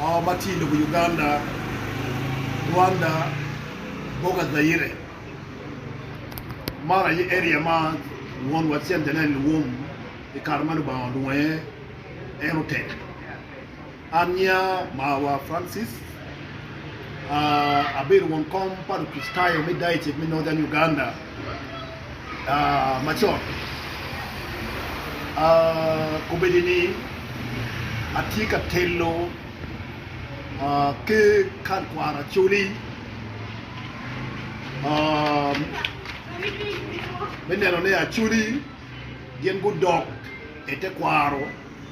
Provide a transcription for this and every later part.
Moo ma tye i lobo Uganda, Rwanda, Boka Zaire. Man aye area ma won wa Cem Janel owom i kare ma Lubanga olwongo iye en otek. An nyiya mawa Francis, abedo won kom pa Lukricitayo me Diocese me Northern Uganda. macon, kobedi ni atye ka telo ki kal kwaro acoli me neno ni acoli gin gudok i tekwaro.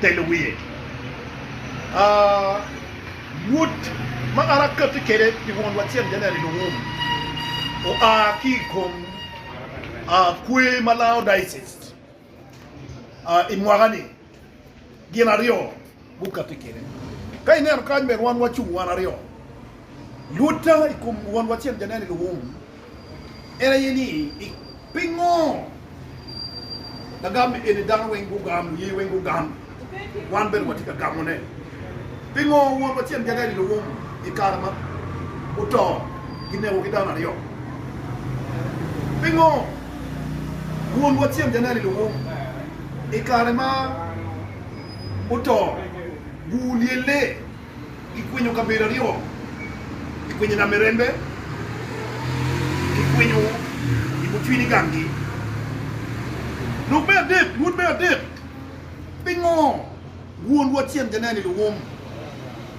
telo wiye. Rwot ma an akatti kwede pi won lwacel Janel Iluwum oa ki i kom kwer ma Laodicea i mwaka-ni gin aryo gukatti kwede. Ka ineno kany bene wan wacung wan aryo. Rwotta i kom won lwacel Janel Iluwum en aye ni, Pingo? Lagam ni eni dano weng gugam, luye weng gugam, wan bene watye ka gamone. Pingo won wacel nyige aye lilo wum i kare ma oto gineko ki dano aryo? Pingo won wacel nyige aye lilo wum i kare ma oto gulyelle? Kikwinyo kabedo aryo, kikwinyo i lamerembe, kikwinyo i bucwiny ganggi. Lok me adek, Lwod me adek, Pingo wonwa tyen janene luwom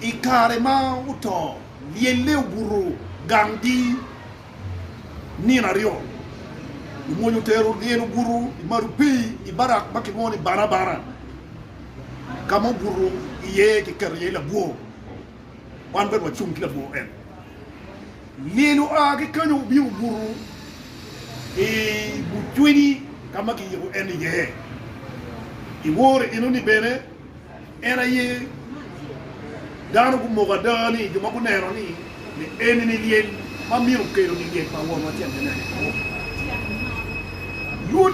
i kare ma oto lyelle obuto ganggi nino aryo? Omwony otero lyel obuto i maru pii i barak ma kilwongo ni Banabana. Ka ma obuto iye kiketo iye labwor, wan bene wacung ki labwor en. Lyel oa ki kenyo obino obuto i but cwiny ka ma kiyiko en iye. I woro eno-ni bene, en aye dano gumoko ada ni jo ma guneno ni eni-ni lyel ma myero okeloni lyel pa Wonwa cente me Angec Mawor.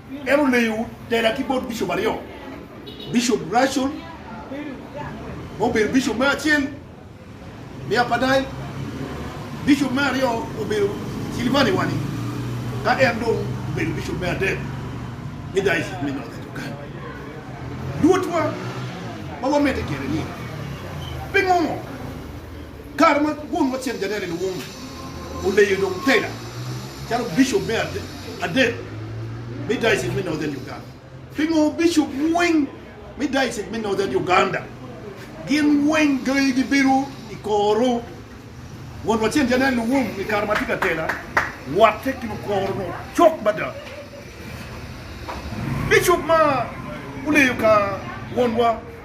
En oleyo tela ki bot bicop aryo, Bicop Russell ma obedo bicop me acel me Apadai, bicop me aryo obedo Silvani Wani, ka en dong obedo bicop me adek me Dayocik me Northern Uganda. Luotwa ma wamedde kwede-ni, pingo? Kare ma won wa Cen Janelle Luwuma oleyo dong Taylor calo Bicop me adek me Diocese me Northern Uganda, pingo Bicop weng me Diocese me Northern Uganda gin weng gayi gi bedo i koro? Won wa Cen Janelle Luwum i kare ma tye ka tela watte ki lukoro nongo cok mada. Bicop ma oleyo ka won wa.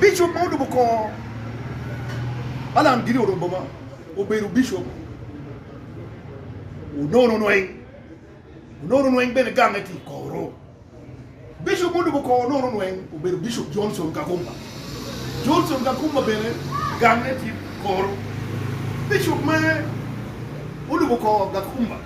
Bicop ma olubo kor Alan Gini Orombo ma obedo bicop onono nweng onono nweng bene gamme tye i koro. Bicop ma olubo kor onono nweng obedo Bicop Johnson Kakumba. Johnson Kakumba bene gamme tye i koro. Bicop ma olubo kor Gakumba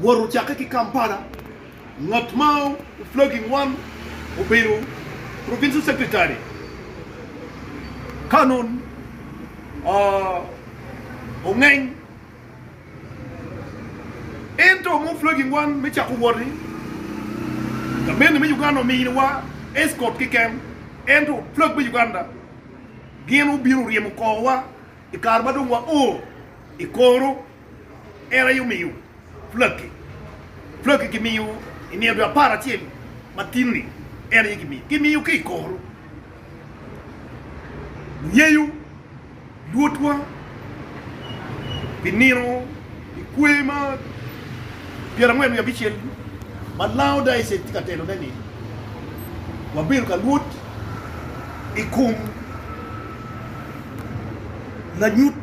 Wot ocakke ki Kampala, ngat ma oflagi ngwan obedo Provincial Secretary Canon Ongeng. Ento ma oflagi ngwan me cako wot-ti, gamenni me Uganda ominiwa escort keken, ento flag me Uganda gin obino oryemo kor wa i kare ma dong wao i koro. en aye omiyo pulaki. Pulaki kimiyo i nino dwe apar acel ma tino-ni, en aye kimiyo. Kimiyo ki i kor ngeyo Lwotwa pi nino i kwer ma pyerangwen wiye abicel ma Lao Diocese tye ka telone-ni. Wabedo ka lwot i kom lanyut.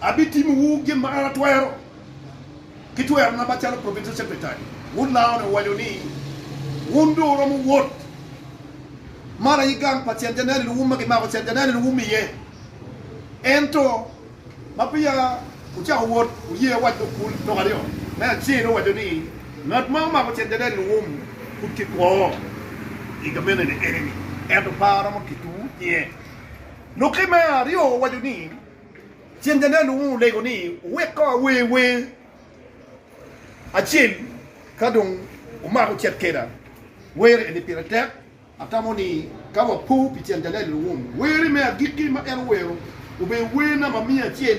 Abitimowu gin ma an atwero ki twerona macalo Provincial Secretary. Wod Laone owaco ni, Wun dong wuromo wot man aye gang pa Cen Janelin wu ma kimako Cen Janelin wu miye. Ento ma peya wucako wot, wuye awac lok kulu lok aryo. Me acel, owaco ni, Ngat ma omako Cen Janelin wu pud kikwo i gameneni eni-ni, ento par romo keto wu iye. Lukke me aryo owaco ni, Ceng Janai luwung olego ni owek kong awer wer acel ka dong omako cet keda. Wer eni pire tek. Atamo ni ka wapo pi Ceng Janai luwung, were me agikki ma en owero obedo werna ma miya acel.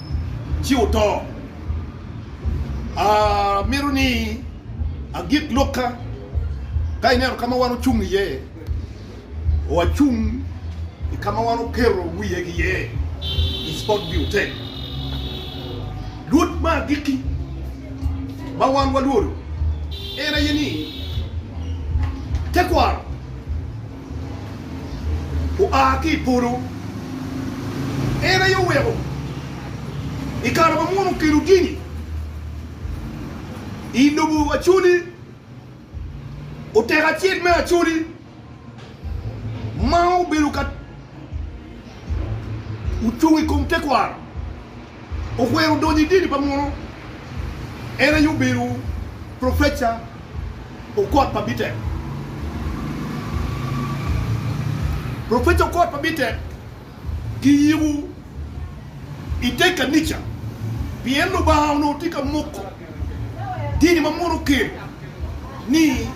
ci oto. Amito ni agik lokka ka ineno ka ma wan ocung iye, wacung i ka ma wan oketo wiye ki iye i Spot View Hotel. Lwod me agikki ma wan walwodo en aye ni tekwaro. oa ki i polo. En aye oweko i kare ma Musa okelo gini i lobo Acholi, oteko acel me Acholi ma obedo ka ocung i kom tekwaro. okwero donyo i dini pa muno. En aye obedo professor Okot pa Bitek. Professor Okot pa Bitek kiyiko i te kanica pien Lubanga onongo tye ka moko dini ma muno okelo ni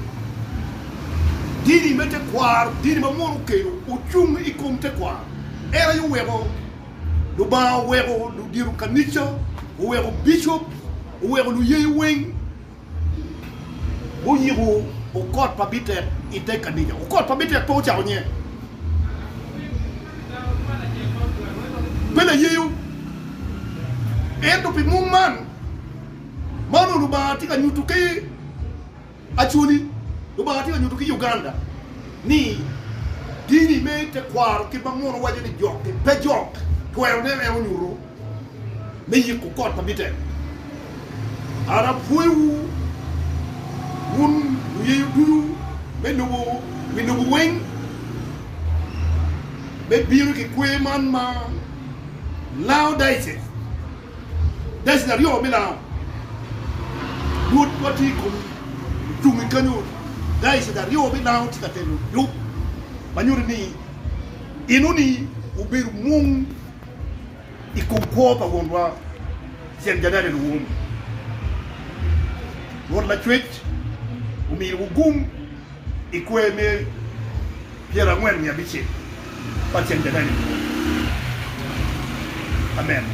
dini me tekwaro, dini ma muno okelo ocung i kom tekwaro. En aye oweko. Lubanga oweko ludito kanica, oweko bicop, oweko luyeyo weng guyiko okot pa bitek i te kanica. Okot pa bitek pe ocako nye. Pe layeyo. Ento pi mung man ma onongo Lubanga tye ka nyuto ki. Actually, Lubanga tye ka nyuto ki Uganda ni dini me tekwaro kit ma muno waco ni jokke pe jok twero neno en onyuto me yiko kot ma bitek. An apwoyowu wun luyeyo ducu me lobo wi lobo weng me bino ki kwer man ma Laodices. Deci aryo me laau Rwotwa tye i komi, cung i kanyo. Deci aryo me laau tye ka telo lub ma nyuto ni enoni obedo mung i kom kwo pa Wonwa Ceng Janene Luwum. Rwot Lacwec omiyowa gum i kwer me pyerangwen wiye abicel pa Ceng Janene Luwum. Amen.